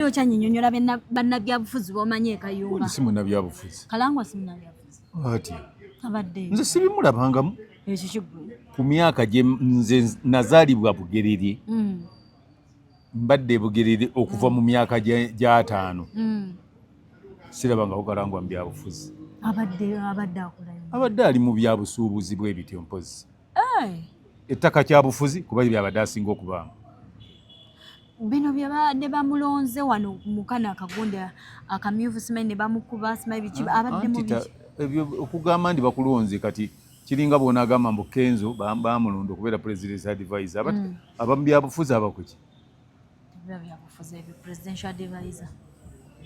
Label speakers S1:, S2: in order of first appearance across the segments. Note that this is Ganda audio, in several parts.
S1: Naye okyanyinyonyola bannabyabufuzi bomanyi ekayumba. Si munnabyabufuzi.
S2: Kalangwa si
S1: munnabyabufuzi. Ati.
S2: Abadde. Nze
S1: sibimulabangamu.
S2: Ekyo kiggwe.
S1: Ku myaka gye
S2: nze nazaalibwa Bugerere. Mm. Mbadde Bugerere okuva mu myaka gy'ataano. Mm. Sirabangako Kalangwa mu byabufuzi. Abadde
S1: abadde akolayo. Abadde ali mu
S2: byabusuubuzi bw'ebityo mpozi. ettaka kyabufuzi kuba ye byabadde asinga okubaamu
S1: bino byebabadde bamulonze wano mukano akagunde akamyufu simanyi ne bamukuba simanyi biki ah, abadde mu ebyo okugamba
S2: nti bakulonze kati kiringa bona agamba mbu kenzo bamulonda okubeera presidence advisor mm. abamubyabufuzi abakuki Biba
S1: byabufuzi ebyo presidential advisor.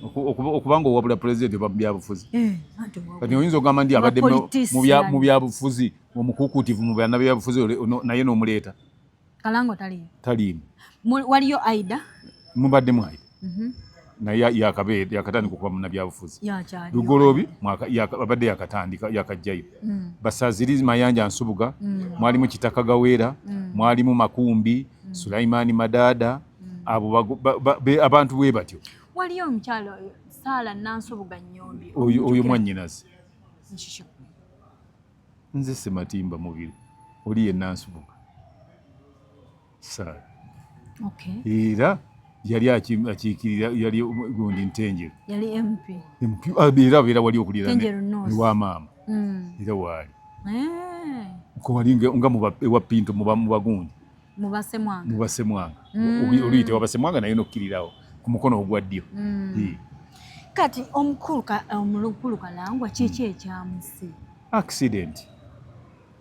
S2: Okuba nga owabula president oba byabufuzi. Eh, Kati oyinza okugamba nti abadde mu byabufuzi omukukuutivu mu bannabyabufuzi naye n'omuleeta. Kalango
S1: taliimu. Taliimu.
S2: Waliyo
S1: Aida. Mubadde mu
S2: Aida. Mhm. naye yakabeera yakatandika okuba munabyabufuzi lugoloobi abadde yakatandika yakajjayo mm. basaziri mayanja nsubuga mm. mwalimu kitaka gaweera mm. mwalimu makumbi sulaimaani madaada abo abantu bwe batyo waliyo omukyalo
S1: saala nansubuga nyombi oyo mwanyinazi
S2: nze sematimba mubiri oli ye nansubuga saala era yali akiikirira yali gundi ntenjeru
S1: ah, era abeera
S2: wali okulira ewa maama mm. era waali eh. wali nga ewa pinto mubagundi
S1: mubasemwanga
S2: mm. oluyite wabasemwanga naye nokkirirawo ku mukono ogwa ddyo mm.
S1: kati omukulu kalangwa kiki ekyamusi accident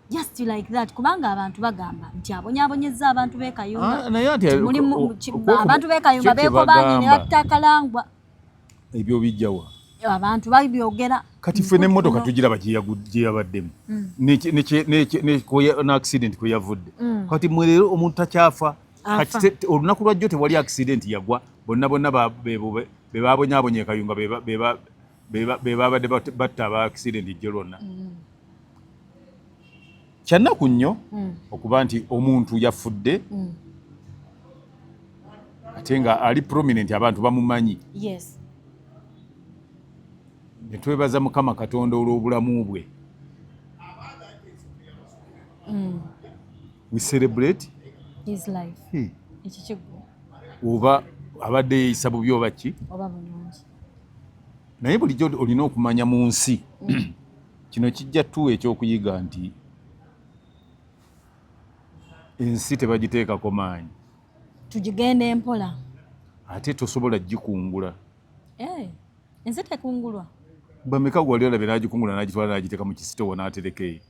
S1: just like that kubanga abantu bagamba nti abonyabonyeza abantu bekayumba ah,
S2: abantu
S1: bekayumba bekobanyi nebatta kalangwa ebyo
S2: bijjawa abantu
S1: babyogera kati ffe nemotoka
S2: tugira bagyeyabaddemu mm. neaccident kweyavudde mm. kati mwe leero omuntu takyafa olunaku lwajjo tewali accident yagwa bonna bonna bebabonyabonye ekayunga bebabadde batta aba accident jjo lwonna mm. kyannaku nnyo hmm. okuba nti omuntu yafudde hmm. ate nga ali prominent abantu bamumanyi netwebaza mukama katonda olw'obulamu bwe hmm. we celebrate his
S1: life hmm.
S2: oba abadde yeyisa bubi oba ki naye bulijjo olina okumanya mu nsi Kino kijja tuwa ekyokuyiga nti ensi tebagiteekako maanyi, tugigenda
S1: empola ate
S2: tosobola gikungula. Hey, eh,
S1: ensi tekungulwa. Bameka gwali
S2: olabye nagikungula nagitwala nagiteeka mu kisitowa natereka eyo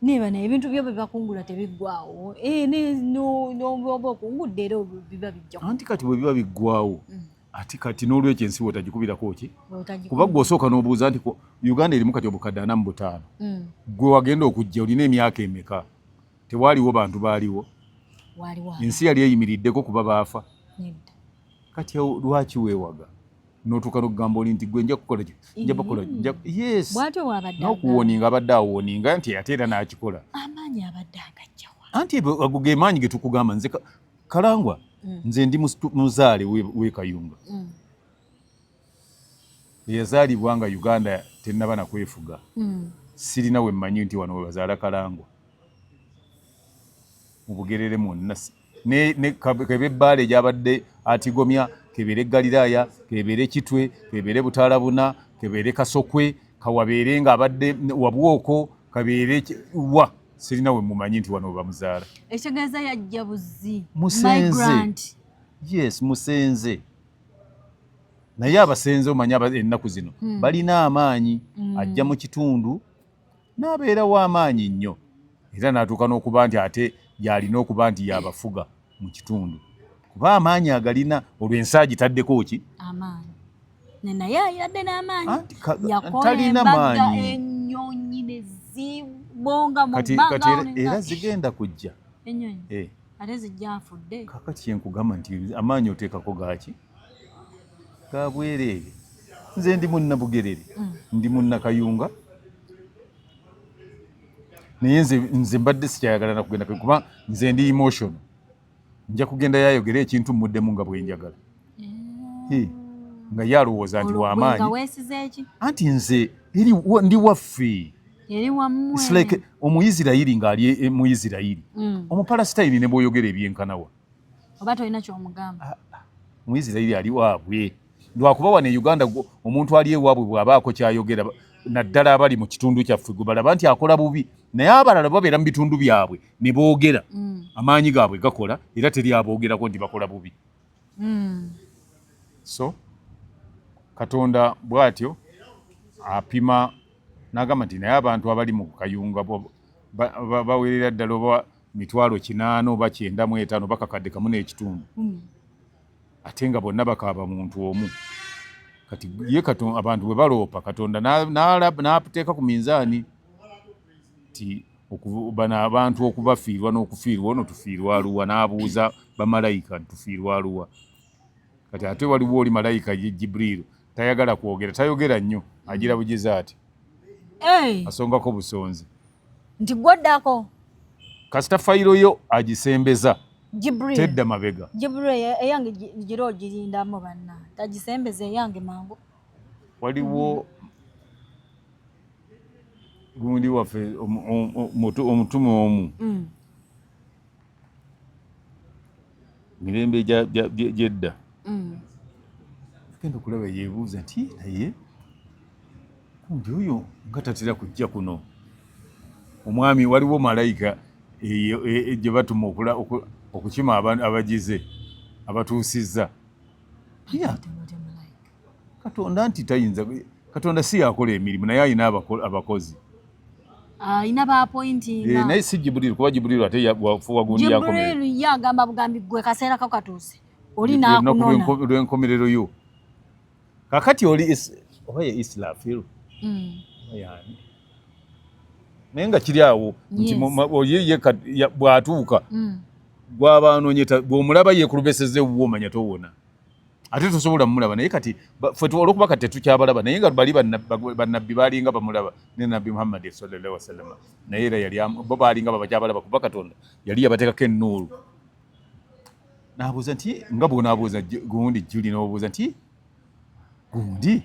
S1: niba naye ebintu byo bebakungula tebiggwawo eh, noba okungudde era biba bijja anti kati bwebiba
S2: biggwawo mm. ati kati n'olwekyo ensi wotagikubirako ki kuba gwe osooka n'obuuza nti uganda erimu kati obukadde ana mu butaano mm. gwe wagenda okujja olina emyaka emeka tewaaliwo bantu baaliwo ensi yali eyimiriddeko kuba baafa kati lwaki weewaga notuuka nokugamba oli nti gwe nja kukola nja bakola yes
S1: nokuwoninga abadde
S2: awoninga nti ate era nakikola
S1: anti ago ge
S2: maanyi getukugamba nze Kalangwa mm. nze ndi muzaale we Kayunga mm. eyazaalibwa nga Uganda tennaba na kwefuga mm. sirina we mmanyi nti wano webazaala Kalangwa mu Bugerere mwonna ne, ne kebe bbaale gyabadde atigomya kebeere Galiraaya kebeere Kitwe kebeere Butaalabuna kebeere Kasokwe kawabeere ng'abadde wabwoko kabeere wa sirina we mumanyi nti wano bamuzaala ekitegeeza yajja
S1: buzzi musenze
S2: yes musenze naye abasenze omanya ennaku zino hmm. balina amaanyi hmm. ajja mu kitundu n'abeerawo amaanyi nnyo era n'atuuka n'okuba nti ate yalina okuba nti yabafuga mu kitundu kuba amaanyi agalina olwo ensi agitaddeko ki amaanyi
S1: naye ayadde n'amaanyi yakola
S2: maanyi ennyonyi ne
S1: zibonga mu bbanga era
S2: zigenda kujja ennyonyi eh.
S1: ate zijja afudde kakati kyenkugamba nti
S2: amaanyi oteekako gaaki ga bwereere nze ndi munnabugerere mm. ndi munnakayunga naye nze nze mbadde sikyayagala nakugenda kuba nze ndi emotion nja kugenda yayogera ekintu muddemu nga bwenjagala eh. nga ye alowooza nti wamaanyi anti nze ndi waffe like omuisirairi ng'ali e, e, mu isirairi mm. omupalasitayini ne bwoyogera ebyenkanawa oba tolina
S1: kyomugamba ah, ah. muisirairi
S2: ali waabwe lwakuba wano e uganda omuntu ali ewaabwe bw'abaako kyayogera naddala abali mu kitundu kyaffe gwe balaba nti akola bubi naye abalala babeera mu bitundu byabwe ne boogera mm. amaanyi gaabwe gakola era teri aboogerako nti bakola bubi mm. so katonda bw'atyo apima n'agamba nti naye abantu abali mu kayunga baweerera ddala oba mitwalo kinaana oba kyenda mu etaano bakakadde kamu n'ekitundu mm. ate nga bonna bakaaba muntu omu kati ye katon, abantu bwe baloopa katonda n'ateeka ku minzaani ti bano abantu okubafiirwa n'okufiirwa ono tufiirwa aluwa n'abuuza bamalayika tufiirwa aluwa kati ate waliwo oli malayika ye jibriilu tayagala kwogera tayogera nnyo agira bugize ati asongako busonzi nti
S1: gwoddako kasita
S2: fayiro yo agisembeza tedda
S1: mabega
S2: eyange
S1: gira ogirindamu banna tagisembeza eyange mangu waliwo
S2: gundi waffe omutume omu mm. mirembe gyedda mm. genda okulaba yebuuza nti naye kumbi oyo nga tatera kujja kuno omwami waliwo malayika e, gye batuma okukima abagize abatuusizza katonda nti tayinza katonda si yakola emirimu naye alina abakozi
S1: alina ah, bapointinga eh, naye si jibuliru kuba
S2: jibuliru ate wagumiyajibuliru ye agamba bugambi
S1: gwe kaseera ko katuuse oli nakunonalwenkomerero yo
S2: kakati oli oba ye islafiru hmm. yani naye nga kiri awo nti ye bwatuuka hmm. gwaba anonyeta bwomulaba yekulubeseza ewuwo omanya towona ate tosobola mulaba naye kati fe olwokuba kati tetukyabalaba naye nga bali banabbi balinga bamulaba ne nabbi muhammadi sallallahu wasalama naye era yali bo balinga babakyabalaba kuba katonda yali yabatekako enuulu nabuuza nti nga bwonabuuza gundi juli nobuuza nti gundi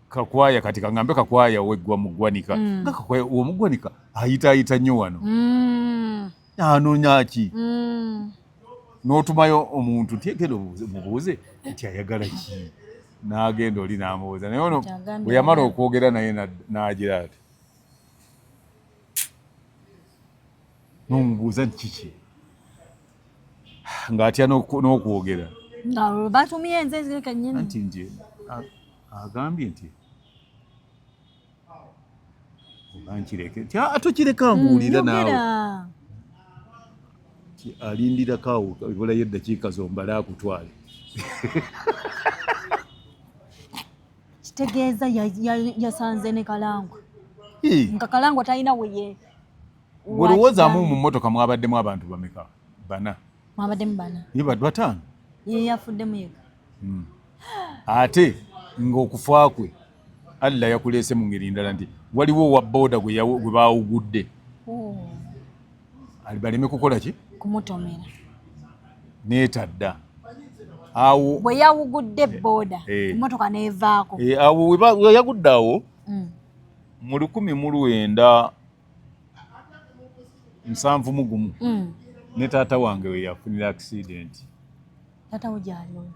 S2: kakwaya kati kangambe kakwaya weggwa mugwanika mm. nga kakwaya omugwanika ayitaayita nnyo wano mm. anoonya ki mm. n'otumayo omuntu nti genda mubuuze nti ayagala ki n'agenda oli n'amubuuza naye ono bwe yamala okwogera naye n'agira ati n'omubuuza nti kiki ng'atya n'okwogera
S1: batumye nze nti nti
S2: agambye nti onankireke tokireka ah, mbuulire mm, naawe alindirako awo ebulayo eddakiika zombale akutwale
S1: kitegeeza yasanze ne kalangwa nga kalangwa talina weye olowoozamu
S2: mu mmotoka mwabaddemu abantu bameka bana mwabaddemu bana
S1: ye bad bataano
S2: ye yafuddemu
S1: yeka hmm.
S2: ate ng'okufa kwe Allah yakuleese mu ngeri ndala nti waliwo owa boda gwe baawugudde oh. baleme kukola ki kumutomera neetadda awo bwe yawugudde
S1: eh, boda eh. emotoka neevaako eh, awo
S2: weyagudde awo mm. mu lukumi mu lwenda nsanvu mu gumu mm. ne taata wange weyafunira accidenti
S1: Tata wo gyali oyo?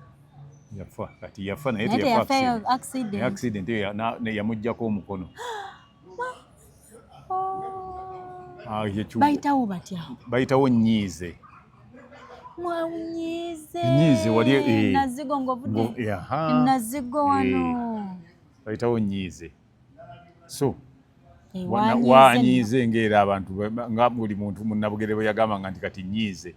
S1: Yafa
S2: kati yafa naye teyafa accident.
S1: Accident
S2: eyo yamuggyako omukono.
S1: Ah, bayitawo batya bayitawo nyiize
S2: mwanyiize
S1: nyiize wali eh, nazigo ngovude nazigo wano eh, bayitawo
S2: nyiize so wanyiize ngaera abantu nga buli muntu munabugere bwe yagambanga nti kati nyiize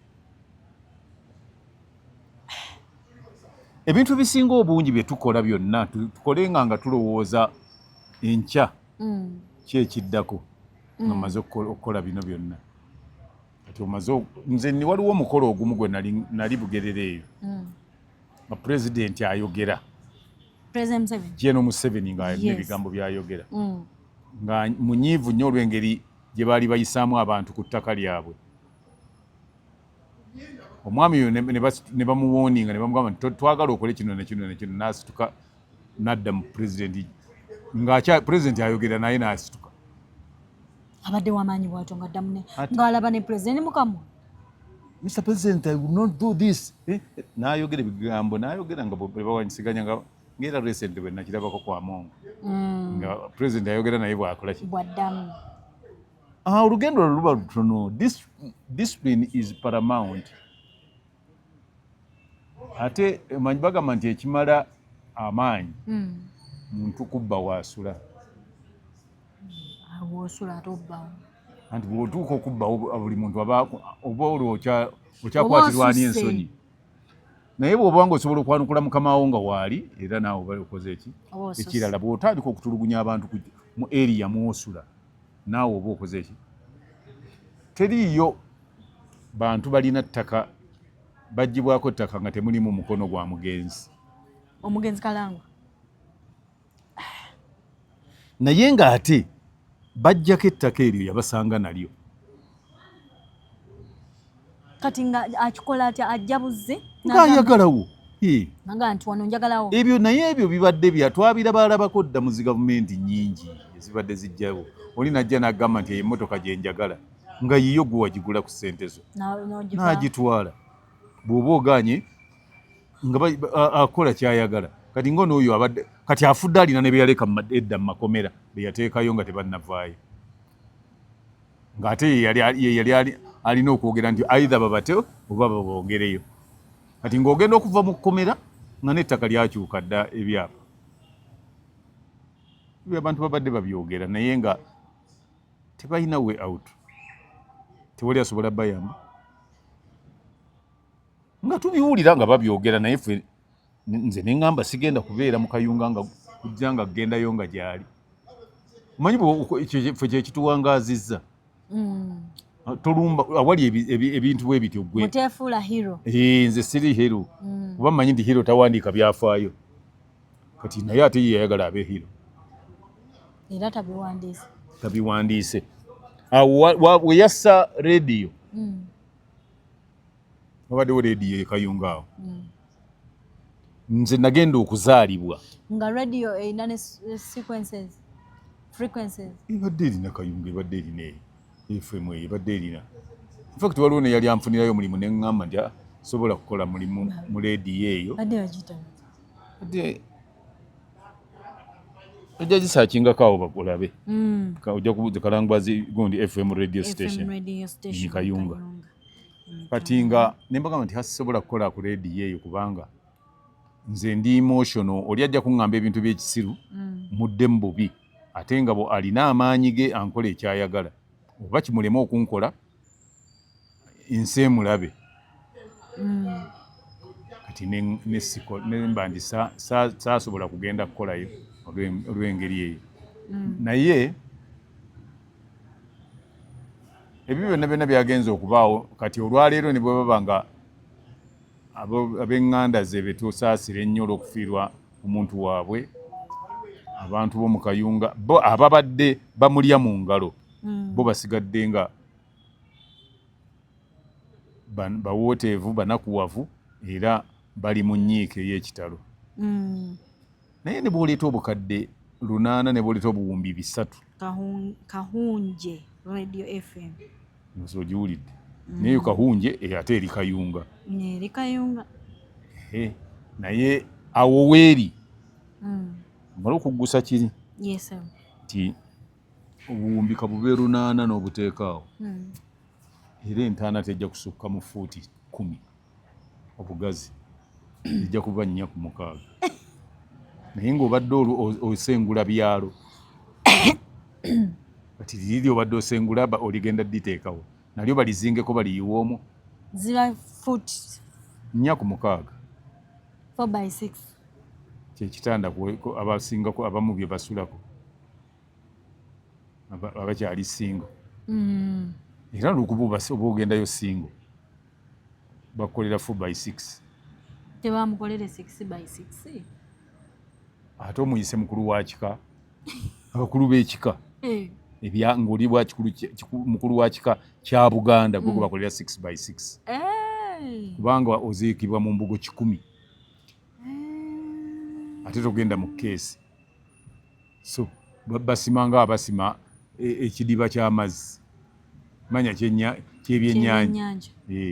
S2: ebintu ebisinga obungi bye tukola byonna tukolenga nga tulowooza enkya mm. kyekiddako nga mm. maze okukola bino byonna kati omaze nze ni waliwo omukolo ogumu gwe nali bugerere eyo mm. nga pulezidenti ayogera Gen Museveni nga alina ebigambo byayogera mm. nga munyiivu nnyo olw'engeri gye baali bayisaamu abantu ku ttaka lyabwe omwami oyo ne bamuwoninga ne bamugamba nti twagala okole kino nekino nekino n'asituka n'adda mu pulezidenti nga pulezidenti ayogera naye n'asituka
S1: abadde wamaanyi bwatyo nga ddamu ng'alaba ne pulezidenti mukamu Mr.
S2: President, I will not do this. Eh? Nayogera ebigambo, nayogera nga bebawanyisiganya nga ngera recent bwe nakirabako kwa Mongo. Mm. Nga president ayogera naye bwakola ki? Bwaddamu.
S1: Ah,
S2: olugendo luba lutono. Discipline is paramount. ate manyi bagamba nti ekimala amaanyi hmm. muntu kubba waasula
S1: wosula ate obbawo anti bwotuuka
S2: okubbawo buli muntu aba oba olwo okyakwatirwani ensonyi naye bwoba nga osobola okwanukula mukamawo nga waali era naawe oba okoze eki ekirala bwotandika okutulugunya abantu mu eriya mwosula naawe oba okoze eki teriiyo bantu balina ttaka bagibwako ttaka nga temulimu mukono gwa mugenzi omugenzi
S1: kalangwa
S2: naye nga ate bajjako ettaka eryo yabasanga nalyo
S1: kati nga akikola atya ajja buzze nga ayagalawo ebyo naye ebyo bibadde
S2: bya twabira balabako dda mu zi gavumenti nyingi ezibadde zijjawo oli najja nagamba nti emotoka gyenjagala nga yiyo gwe wagigula ku ssente zo n'agitwala bw'oba oganye nga akola kyayagala kati nga onooyo abadde kati afudde alina ne beyaleka edda mu makomera beyateekayo nga tebannavaayo ng'ate yeyali alina okwogera nti aidha babate oba babongereyo kati ng'ogenda okuva mu kkomera nga n'ettaka lyakyuka dda ebyapa abantu babadde babyogera naye nga tebalina way out tewali asobola bayamba nga tubiwulira nga babyogera naye fe nze neŋamba sigenda kubeera mu kayunga nga kujja nga kugendayo nga gyali omanyi fe kyekituwangaazizza mm. ah, tolumba awali ebintu bwe bityo gwenze
S1: siri hero
S2: mm. kuba manyi nti hero tawandiika byafaayo kati naye ate ye yayagala abe hero
S1: era tabiwandiise tabiwandiise
S2: awo weyassa rediyo mm. wabaddewo rediyo ekayunga awo mm. nze nagenda okuzaalibwa nga radio
S1: erina ne sequences frequencies ebadde erina
S2: kayunga ebadde erina eyo FM eyo ebadde erina infact waliwo neyali anfunirayo omulimu neŋŋamba nti ah, sobola kukola mulimu mu leediyo eyo ojja gisakingako awo bakulabe hmm. ojja kubuuza kalangwazi gundi fm radio station ni
S1: kayunga
S2: kati nga nembagamba nti hasisobola kukola ku leediyo eyo kubanga nze ndi emotional oli ajja kuŋŋamba ebintu by'ekisiru hmm. mudde mu bubi ate nga bwe alina amaanyi ge ankola ekyayagala oba kimulema okunkola ensi emulabe mm. kati nemba nti saasobola kugenda kukolayo olw'engeri eyo mm. naye ebyo byonna byonna byagenza okubaawo kati olwaleero ne bwe baba nga ab'eŋŋanda ze be tusaasira ennyo olw'okufiirwa omuntu waabwe abantu bo mu kayunga bo ababadde bamulya mu ngalo hmm. bo basigadde nga bawooteevu banakuwavu era bali mu nnyiike ey'ekitalo hmm. naye ne bw'oleeta obukadde lunaana ne bw'oleeta obuwumbi bisatu
S1: kahunje radio fm nze ogiwulidde
S2: mm. naye kahunje eh, ate eri kayunga eri kayunga naye awo weeri mm. mala okuggusa kiri nti obuwumbi kabube lunaana n'obuteekaawo mm. era entaana tejja kusukka mu fuuti kumi obugazi ejja kuba nnya ku mukaaga naye ng'obadde osengula byalo kati liri obadde osengula oligenda diteekawo nalyo balizingeko baliyiwa omu ziba
S1: fut nnya ku
S2: mukaaga kyekitanda abasingako abamu bye basulako abakyali singo mm. era lukuba oba ogendayo singo bakukolera four by six tebamukolere
S1: six
S2: by six ate omuyise mukulu wa kika abakulu b'ekika eh. ebya ng'oli bwa mukulu wa kika kya buganda gwe gwebakolera hmm. six by six eh. kubanga oziikibwa mu mbugo kikumi eh. ate togenda mu keesi so basima nga abasima e, ekidiba ky'amazzi manya kyebyennyanja